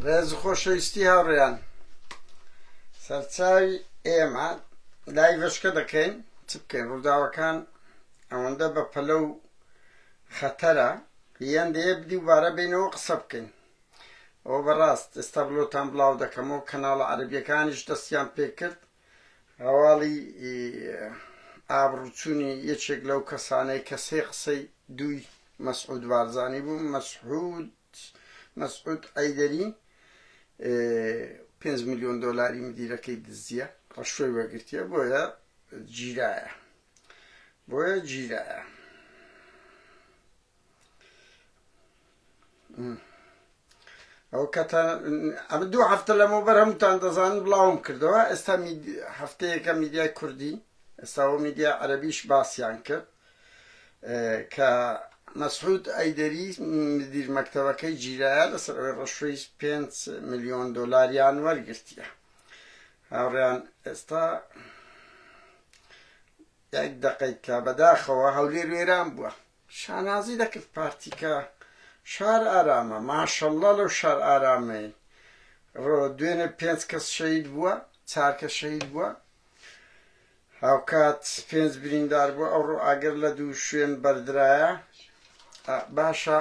ڕێز خۆشەویستی هاوڕێیان سەرچاوی ئێمە لای بەشکە دەکەین چ بکەین ڕووداوەکان ئەوەندە بە پەلە و خەتەرە یان دەیە بدی وبارە بینەوە قسە بکەین ئەو بەڕاست ئێستا بلۆتان بڵاو دەکەمەوە کەناڵە عەربیەکانیش دەستیان پێکرد هەواڵی ئابڕووچوونی یەکێک لەو کەسانەی کە سێ قسەی دووی مەسعود بارزانی بوو، مەسعود مەسعود عەیدەری پێنج ملیۆن دۆلاری مدیرەکەی دزیە ڕشوەی وەگرتیە بۆیە گیرایە بۆیە گیرایە. ئەو کەتە ئەمە دوو هەفتە لەمەوە بەر هەمووتان دەزان بڵاوم کردەوە ئێستا هەفتەیەەکە میدیای کوردی ئێستاەوە میدیا عەربیش باسییان کرد کە مەسعود ئەیدەری مدیر مەکتەبەکەی جیرایە لەسەر ئەوەی ڕەشوی 5 میلیۆن دلاریان وەرگرتیە هاوڕیان ئێستا یەک دقیت کە بەداخەوە هەولێر وێران بووە شانازی دەکرد پارتیکە شار ئارامە ماشاللە لەو شار ئارامەی ڕۆ دوێنێ پێنج کەس شەید بووە چارکە شەید بووە هاوکات پێنج بریندار بووە ئەو ڕۆ ئاگر لە دوو شوێن بەردرایە باشە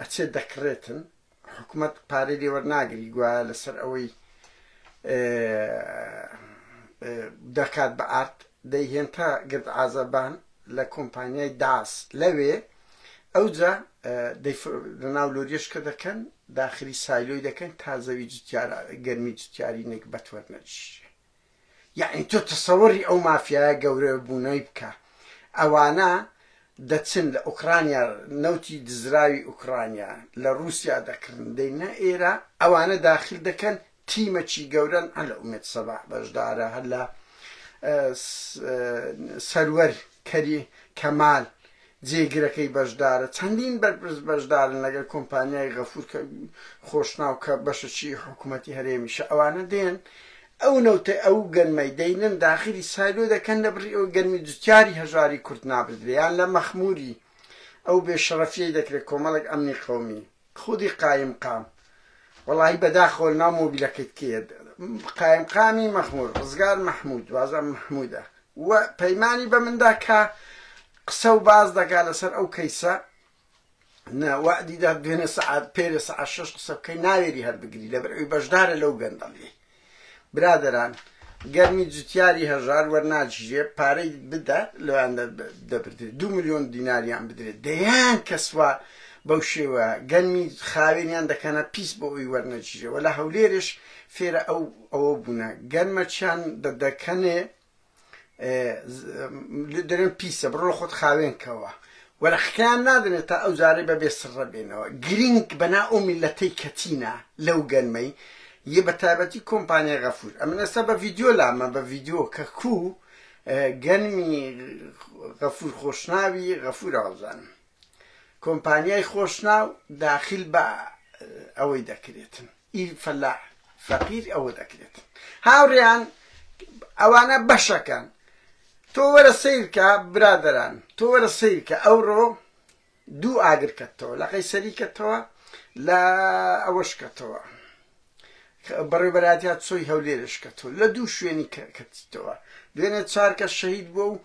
ئەچێت دەکڕێتن حکومەت پارەی لێ وەرناگری گوایە لەسەر ئەوەی دەکات بە ئارت دەیهێن تا گرد ئازەبان لە کۆمپانیای داس لەوێ ئەوجا لەناو لۆریشکە دەکەن داخلی سایلۆی دەکەن تا زەوی جتیارە گەرمی جتیاری نەک بەتوەرنەجیشێ یەعنی تۆ تەسەوری ئەو مافیایە گەورە بوونەی بکە ئەوانە دەچن لە ئۆکڕانیا نەوتی دزراوی ئۆکڕانیا لە ڕووسیا دەکڕن دەینە ئێرە ئەوانە داخل دەکەن تیمەکی گەورەن هەر لە ئومێد سەبا بەشدارە هەر لە سەروەر کەری کەمال جێگرەکەی بەشدارە، چەندین بەرپرس بەشدارن لەگەل کۆمپانیای غەفور کە خۆشناو کە بەشەچی حکومەتی هەرێمیشە ئەوانە دێن ئەو نەوتەی ئەو گەنمەی دەینن داخلی سایلۆ دەکەن لە بڕی ئەوەی گەنمی جوتیاری هەژاری کورد نابردرێ یان لە مەخموری ئەو بێ شەرەفیەی دەکرێ کۆمەڵێک ئەمنی قەومی خودی قایم قام وەڵاهی بەداخەوە لەناو مۆبیلەکەت کێیە قایم قامی مەخمور ڕزگار محمود وازان محمودە و پەیمانی بە مندا کە قسە و باز دەکا لەسەر ئەو کەیسە ناوادیدا دوێنێ سعات پێرێ سعات شش قسە بکەی ناوێری هەر بگری لەبەر ئەوی بەشدارە لەو گەندەڵی برادەران گەرمی جوتیاری هەژار وەرناگیرێ پارەی بدات لۆیان دەبردرێت دو ملیۆن دیناریان بدرێت دەیان کەسوا بەو شێوە گەنمی خاوێنیان دەکەنە پیس بۆ ئەوی وەرنەگیرێ وە لە هەولێرش فێرە ئەو ئەوە بوونە گەنمەچیان دەدەکەنێ دەرێن پیسە بڕۆ خۆت خاوێن کەوە وەرەخکان نادنێت تا ئەو جارەی بە بێ سڕە بێنەوە گرنگ بەنا ئەو میلەتەی کەتینە لەو گەرمەی یە بە تایبەتی کۆمپانیای غەفور ئەمن ئێستا بە ڤیددیو لامە بە ڤیددیو کە کوو گەنمی غەفور خۆشناوی غەفور ئازانم کۆمپانیای خۆشناو داخیل بە ئەوەی دەکرێتن ئیل فەلا فەقیر ئەوە دەکرێت هاوڕیان ئەوانە بەشەکان تۆ وەرە سیرکە برادران تۆ وەرە سیرکە ئەوڕۆ دوو ئاگرکەتەوە لەقەی سەریکەتەوە لە ئەوەشکەتەوە بەڕێوبەرایەتیا چۆی هەولێرش کە تۆ لە دوو شوێنی کەتیتەوە دوێنێ چارکە شەهید بووە و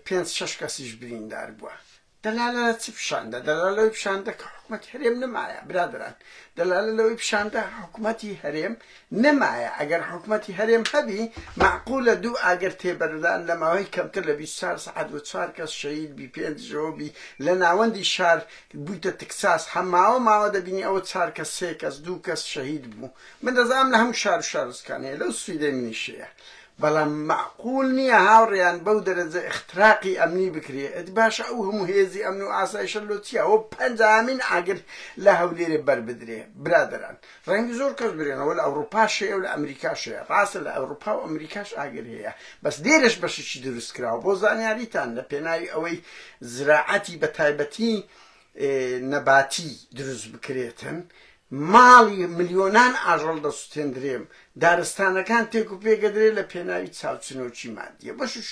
پێنج شش کەسیش بریندار بووە دەلالە لە چ پیشاندە دەلا لەوەی پیشاندە کە حکوومەت هەرێم نمایە برادران دەلالە لەوەی پیشاندە حکوومەتی هەرێم نمایە ئەگەر حکوومەتی هەرێم هەبی معقول لە دوو ئاگەر تێبەردان لە ماوەی کەمتر لە 24 سعات و چوار کەس شەید بی پێنجەوە بی لە ناوەندی شار بویتە تکساس هە ماوە ماوە دەبینی ئەوە چار کەس سێ کەس دوو کەس شەهید بو من دەزانم لە هەمو شارو شارۆچکان هەیە لەو سویدەی منیش هەیە بەڵام مەعقول نیە هاوڕێیان بەو دەرەجە ئختراقی ئەمنی بکرێ ئەدی باشە ئەو هەمو هێزی ئەمن و ئاسایشە لۆ چیە ئەوە پەنجاهەمین ئاگر لە هەولێرێ بەربدرێ برادەران ڕەنگە زۆر کەس برێنەوە لە ئەوڕوپاش هەیە و لە ئەمریکاش هەیە ڕاستە لە ئەوروپا و ئەمریکاش ئاگر هەیە بەس لێرەش بەشێکی دروست کراوە بۆ زانیاریتان لە پێناوی ئەوەی زراعەتی بە تایبەتی نەباتی دروست بکرێتن ماڵی ملیۆنان ئاژەڵ دەسوتێندرێم دارستانەکان تێک و پێک ئەدرێ لە پێناوی چاوچنۆکی مادیە بەشش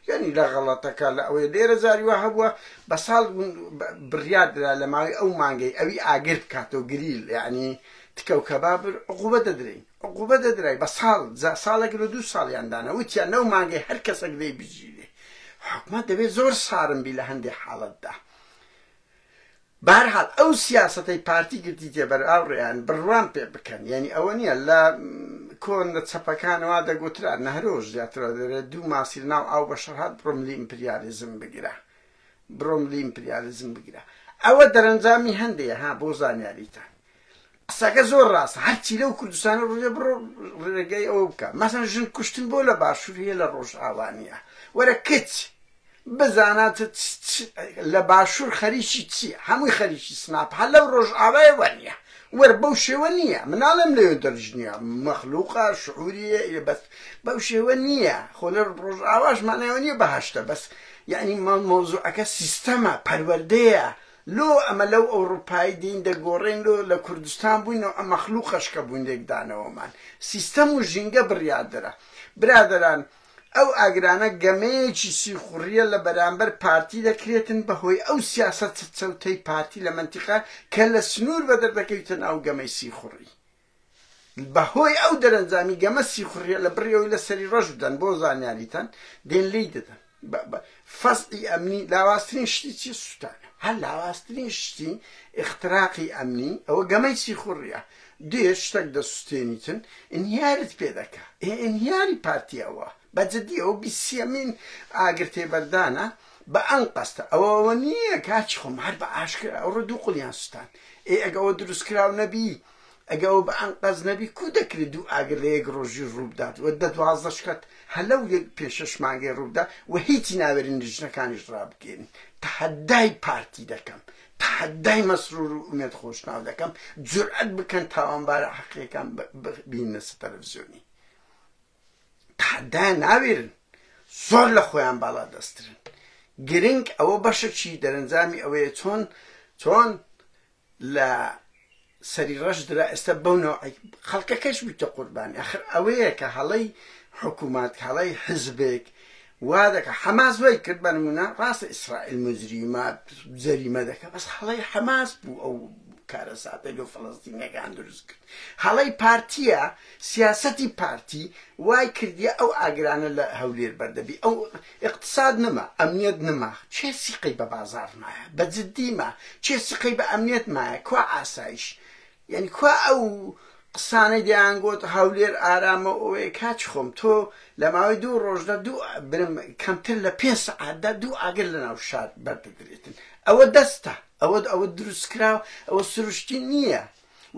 یانی لە غەڵەتەکە لە ئەوەیە لێرە جاری وا هەبووە بە ساڵ بڕیار درا لە ماوەی ئەو مانگەی ئەوی ئاگر بکاتەوە گریل یانی تکە و کەبابر عقوبە دەدرێین عقوبە دەدرای بە ساڵ جا ساڵێک لە دوو ساڵیان دانا وتیان لەو مانگەی هەر کەسێک دەی بگیرێ حکومەت دەبێت زۆر سارم بی لە هەندێک حاڵەتدا بەهەرحاڵ ئەو سیاسەتەی پارتی گرتیتیە بەر ئاوڕیان بڕوام پێ بکەن یانی ئەوە نیە لە کۆن لە چەپەکانەوە دەگوترا نەهرۆش زیاترە دەرێت دوو ماسی لەناو ئاو بەشەر هات بڕۆم لی ئیمپریالیزم بگرە بڕۆم لی ئیمپریالیزم بگرە ئەوە دەرەنجامی هەندێ ها بۆ زانیاریتان قسەکە زۆر ڕاستە هەرچی لەو کوردستانە ڕژێ بڕۆ ڕێگەی ئەوە بکە مەسەن ژن کوشتن بۆ لە باشوور هەیە لە ڕۆژئاوانە وەرە کچ بزانە لە باشوور خەریکی چی هەمووی خەریکی سناپ هەر لەو ڕۆژئاوای وەنیە وەر بەو شێوە نییە مناڵم لەوێ دەرژنیە مەخلوقە شعوریە بەس بەو شێوە نییە خۆ لە ڕۆژئاواش مانایەوە نییە بەهشتە بەس یعنی مەوزوعەکە سیستەمە پەروەردەیە لۆ ئەمە لەو ئەوڕوپای دین دەگۆڕێن لۆ لە کوردستان بووین و ئەم مەخلوقەش کە بوون لێکدانەوەمان سیستەم و ژینگە بڕیاردەرە برادەران ئەو ئاگرانە گەمەیەکی سیخوڕیە لە بەرامبەر پارتی دەکرێتن بە هۆی ئەو سیاسەتە چەوتەی پارتی لە مەنتیقە کە لە سنوور بەدەردەکەویتە ناو گەمەی سیخوڕی بە هۆی ئەو دەرەنجامی گەمە سیخوڕیە لە بڕی ئەوی لە سەری ڕەش بدەن بۆ زانیاریتان دێن لێی دەدەن فەزعی ئەمنی لاوازترین شتی چی سووتانە هەر لاوازترین شتی اختراقی ئەمنی ئەوە گەمەی سیخوڕیە دێ شتێک دەسووتێنیتن ئینهیارت پێ دەکا ئینهیاری پارتی ئەوە بە جدی ئەو بیسیەمین ئاگر تێبەردانە بە ئەن قەستە ئەوە ئەوە نییە کاچ خۆم هەر بە ئاشکرا ئەوڕۆ دوو قلیان سووتان ئێ ئەگەوە دروستکراو نەبی ئەگە ئەوە بە ئەنقەست نەبی کو دەکرێ دوو ئاگر لە یەک ڕۆژی ڕوو بدات و دە دوازدە شکەت هە لەو یەک پێنج شەش مانگەی ڕوو بدا و هیچی ناوێرن لیژنەکانیش ڕابگەیەنن تەحەدای پارتی دەکەم تەحەدای مەسرور و ئومێد خۆشناو دەکەم جورئەت بکەن تاوانبارە حەقیەکان ببیننە سەر تەلەڤزیۆنی تحدایان ناوێرن زۆر لە خۆیان باڵا دەسترن گرنگ ئەوە بەشەکی دەرەنجامی ئەوەیە چۆن چۆن لە سەری ڕەش درا ئێستا بەونەوە خەڵکەکەش بیتە قوربانی ئەخر ئەوەیە کە هەڵەی حکوومەت هەڵی حزبێک وا دەکا حەماس وای کرد بە نمونە ڕاستە ئیسرائیل موجریمە جەریمە دەکا بەس هەڵەی حەماس بوو ئەو کارەساتەی لۆ فەڵەستینەکان دروست کرد هەڵەی پارتیە سیاسەتی پارتی وای کردیە ئەو ئاگرانە لە هەولێر بەردەبی ئەو اقتصاد نما ئەمنیەت نما چێ سیقەی بە بازار مایە بە جددیمە چێ سقەی بە ئەمنیەت مایە کوا ئاسایش یانی کوا ئەو قسانەی دەیان گۆت هەولێر ئارامە و ئەوەیە کاچ خۆم تۆ لە ماوەی دوو ڕۆژدا دوو برم کەمتر لە پێنج سەعاتدا دوو ئاگر لە ناو شار بەردەدرێتن ئەوە دەستە ئەوە ئەوە دروست کراوە ئەوە سروشتی نییە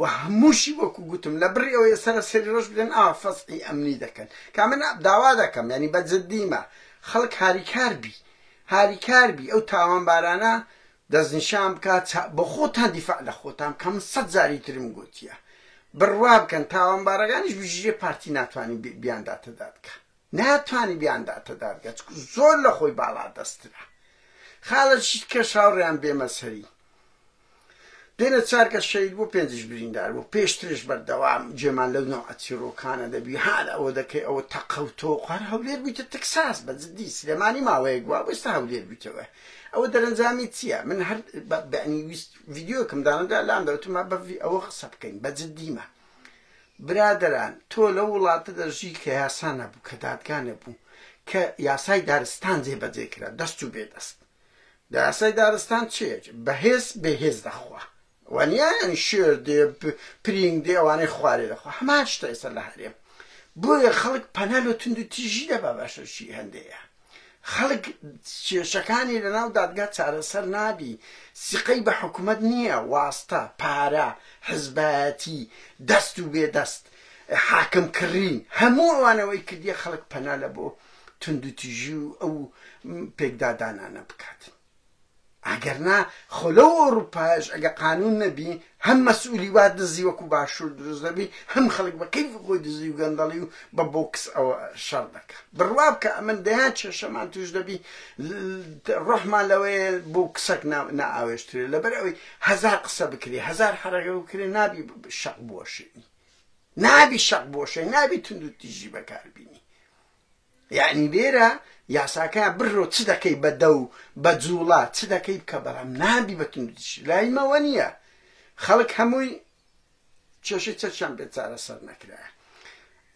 و هەمووشی وەکو گوتم لە بڕی ئەوەیە سەرە سەری ڕۆژ بدەن ئا فەسحی ئەمنی دەکەن کا من داوا دەکەم ینی بە جددیمە خەڵک هاریکار بی هاریکار بی ئەو تاوانبارانە دەستنیشان بکە چا بۆخۆتان دیفاع لە خۆتان بکە من سەد جاری ترم گۆتیە بڕوا بکەن تاوانبارەگانیش بژیێ پارتی ناتوانین بیانداتە دادگا ناتوانین بیانداتە دادگا چکو زۆر لە خۆی باڵا دەسترە خالە شیت کەش هاوڕێیان بێمە سەری دێنە چارکە شەید بۆ پێنجش بریندار بۆ پێشترش بەردەوام جێمان لەو نەوعە چیرۆکانە دەبی هەر ئەوە دەکەی ئەوە تەقەوتۆ قەر هەولێر بوویتە تەکساس بە جدی سلێمانی ماوەیەک بووە بۆستا هەولێر بوویتەوە ئەوە دەرەنجامی چییە من هەر بەعنی ویست ڤیددیوکم دانەدا لام دەوتما بەڤی ئەوە قسە بکەین بە جددیمە برادران تۆ لە وڵاتە دەژی کە یاسا نەبوو کە دادگا نەبوو کە یاسای دارستان جێ بەجێ کرا دەست و بێ دەست داسای دارستان چێت بەهێز بەهێز دەخوا وەنیان شێر دێ پرینگ دێ ئەوانەی خوارێ دەخوا هەمان شتە ئێستا لە هەرێم بۆیە خەڵک پەنا لە توند و تیژی دەبا باشە چی هەندەیە خەڵک کێشەکانی لەناو دادگا چارەسەر نابی سیقەی بە حکوومەت نییە واستە پارە حزبایەتی دەست و بێ دەست حاکم کڕین هەموو ئەوانەوەی کردیە خەڵک پەنا لە بۆ توند و تیژی و ئەو پێکدادانانە بکات. ئەگەر نا خۆ لەو ئەوروپایەش ئەگە قانون نەبی هەم مەسئولی وا دزی وەکو باشوور دروست دەبی هەم خەڵک بە کەیفی خۆی دزی و گەندەڵی و بە بۆکس ئەوە شەڕ دەکا بڕوا بکە ئەمن دەیان کێشەمان توش دەبی ڕۆحمان لەوەیە بۆکسەک نائاوێشترێ لەبەر ئەوەی هەزار قسە بکرێ هەزار حەرەکە بکرێ نابی شەق بووەشێنی نابی شەق بۆشێ نابی تونند و تیژی بەکاربینی یەعنی لێرە یاساکە بڕۆ چ دەکەی بە دە و بە جووڵە چ دەکەی بکە بەڵام نابی بە توندوتیژی لای مەوە نییە خەڵک هەمووی کێشەی چەکیان پێ چارەسەر نەکرایە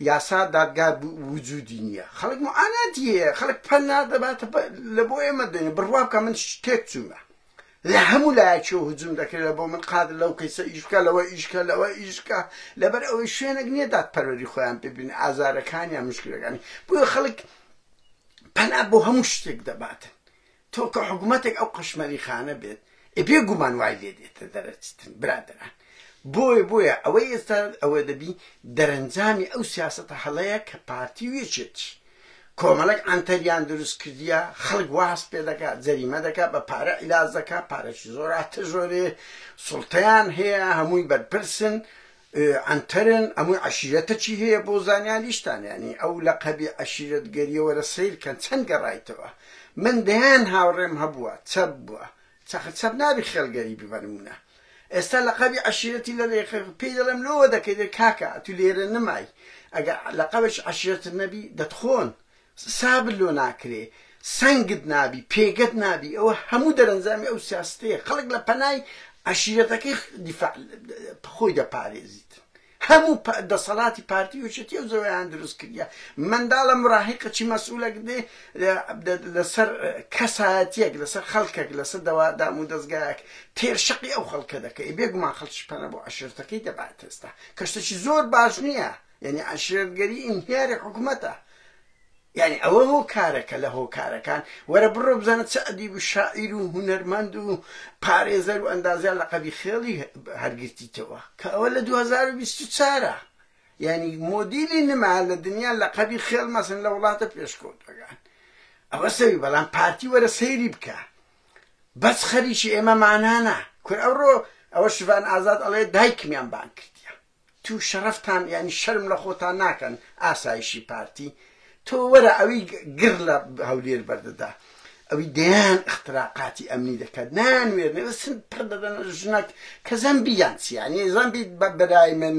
یاسا دادگا وجودی نییە خەڵک معاناتی هەیە خەڵک پەنا دەباتە لە بۆ ئێمە دێنێ بڕوا بکە من تێک چوومە لە هەموو لایەکیەوە هجوم دەکرێت بۆ من قادر لەو کەیسە ئیش بکە لەوە ئیشکە لەوە ئیشکە لەبەر ئەوەی شوێنێک نییە دادپەروەری خۆیان ببین ئازارەکانیان مشکلەکانی بۆ خەڵک پەنا بۆ هەموو شتێک دەباتن تۆ کە حکوومەتێک ئەو قەشمەری خانە بێت ئێبێ گومان وای لێ دێتە دەرەچتن برادران بۆیە بۆیە ئەوەی ئێستا ئەوە دەبی دەرەنجامی ئەو سیاستە هەڵەیە کە پارتی وێچێتی کۆمەڵێک عەنتەریان دروست کردیە خەڵک وا هەست پێ دەکا جەریمە دەکا بە پارە عیلاج دەکا پارەکی زۆر ئاتەزۆرێ سوڵتەیان هەیە هەمووی بەرپرسن عەنتەرن ئەمووی عەشیرەتەکی هەیە بۆ زانیاریشتان یانی ئەو لە قەبی عەشیرەت گەریەوەرە سەیرکەن چەند گەڕایتەوە من دەیان هاوڕێم هەبووە چەپ بووە چەقە چەپ نابی خێڵ گەریبی بە نمونە ئێستا لەقەبی عەشیرەتی لە رێ پێی دەڵێم لۆوە دەکەی کاکە ئەتو لێرە نمای ئەگە لەقەبێکی عەشیرەتت نەبی دەتخۆن سابت لۆ ناکرێ سەنگت نابی پێگەت نابی ئەوە هەموو دەرەنجامی ئەو سیاستەیە خەڵک لە پەنای عەشیرەتەکەی دیفاع خۆی دەپارێزیت هەموو پئ دەسەڵاتی پارتی یوچەتیەو زەوەیان دروست کردیە منداڵە مراهیقە چی مەسئولەک دێ لەسەر کەسایەتیەک لەسەر خەلکەک لەسەر دەوا دامو دەزگایەک تێر شەقی ئەو خەلکە دەکەی بێ گومان خەلکیش پەنا بۆ عەشیرتەکەی دەبات ئێستا کە شتەکی زۆر باش نیە یەنی عەشیرەت گەری ئینهیاری حکومەتە یانی ئەوە هۆکارەکە لە هۆکارەکان، وەرە بڕۆ بزانە چ ئەدیب و شاعیر و هونەرمەند و پارێزەر و ئەندازیار لەقەبی خێڵی هەر گرتیتەوە، کە ئەوە لە دوو هەزار و بیست و چوار ە، یانی مۆدیلی نما لە دنیا لەقەبی خێڵ مەسن لە وڵاتە پێشکەوتوەکان ئەوە سەوی بەڵام پارتی وەرە سەیری بکە بەس خەریکی ئێمە مانانە کورە ئەوڕۆ ئەوە شڤان ئازاد ئەڵێ دایکمیان بانگ کردیە توو شەڕەفتان یانی شەرم لە خۆتان ناکەن ئاسایشی پارتی تۆ وەرە ئەوی گڕ لە هەولێر بەردەدا ئەوی دەیان اختراقاتی ئەمنی دەکات نان وێرنەوە سن پڕ دەدەن ژنەک کە زەمبی یان چیانی زەمبی بە برای من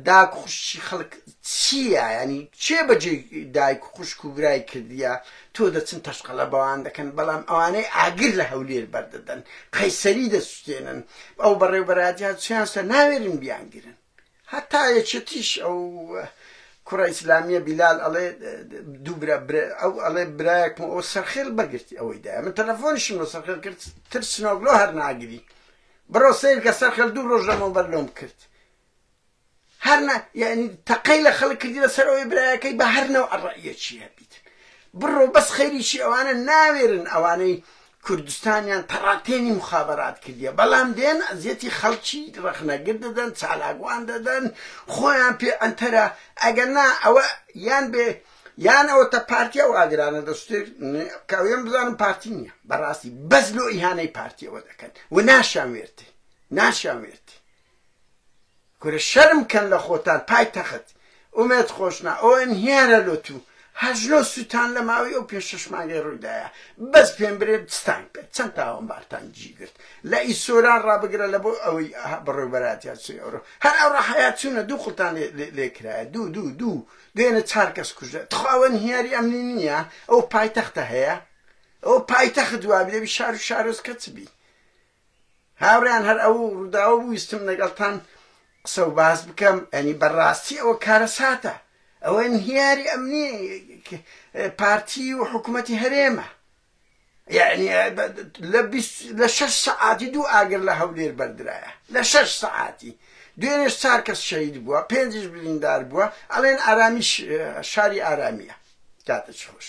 داک خوشی خەڵک چییە ینی چێ بەجێ دایک خوشک و برای کردیە تۆ دەچن تەشقەلە بەوان دەکەن بەڵام ئەوانەی ئاگر لە هەولێر بەردەدەن قەیسەری دەسوتێنن ئەو بەڕێوبەرادیان چیان سە ناوێرن بیانگرن هەتا یەکێتیش ئەو کوڕە ئیسلامیە بیلال ئەڵێ دووبرا ئەو ئەڵێ برایەکم ئەو سەرخێل بەگرتی ئەوەی دای من تەلەفۆنیشم لە سەرخێل کرد ترسنۆگلۆ هەر ناگری بڕۆ سیر کە سەرخێل دوو ڕۆژ لەمەوبەر لۆم کرد هەر نە یعنی تەقەی لە خەڵک کردی لەسەر ئەوەی برایەکەی بە هەر نەو ئەڕەیەکی هەبیت بڕۆ بەس خەریکی ئەوانە ناوێرن ئەوانەی کوردستانیان تەڕاتێنی مخابرات کردیە بەڵام دێن ئەزیەتی خەڵکی ڕەخنەگر دەدەن چالاگوان دەدەن خۆیان پێ ئەتەرە ئەگەر نا ئەوە یان بێ یان ئەوە تە پارتیا و ئاگرانە دەستێک کاوێن بزانم پارتی نییە بەڕاستی بەس لۆ ئیهانەی پارتیەوە دەکەن و ناشان وێرتی ناشان وێرتی کورە شەرم کەن لە خۆتان پای تەخت ئومێد خۆشنا ئۆن هیارە لۆ تو هەژنۆ سوتان لە ماوی ئەو پێ شەش مانگەی ڕویدایە بەس پێم برێ چتان کرد چەند تاوان بارتان جی گرت لە ئی سۆران ڕابگرە لە بۆ ئەوی بڕێ بەراتیا چی ئەورۆ هەر ئەو ڕەحەیا چونە دوو قڵتان لێ کرایە دوو دوو دوو دوێنە چار کەس کوژە تخواوەن هیاری ئەمنی نییە ئەو پای تەختە هەیە ئەو پای تەخت وابێ بی شار و شارۆز کەچ بی هاوڕێیان هەر ئەو ڕووداوە بوو ویستم لەگەڵتان قسە و باس بکەم ئەنی بەڕاستی ئەوە کارەساتە ئەوە انهیاری ئەمنی پارتی و حکوومەتی هەرێمە یعنی لە شەش سەعاتی دوو ئاگر لە هەولێر بەردرایە لە شەش سەعاتی دوێنێش چار کەس شەید بووە پێنجش بریندار بووە ئەڵێن ئارامیش شاری ئارامیە کاتە چ خۆش.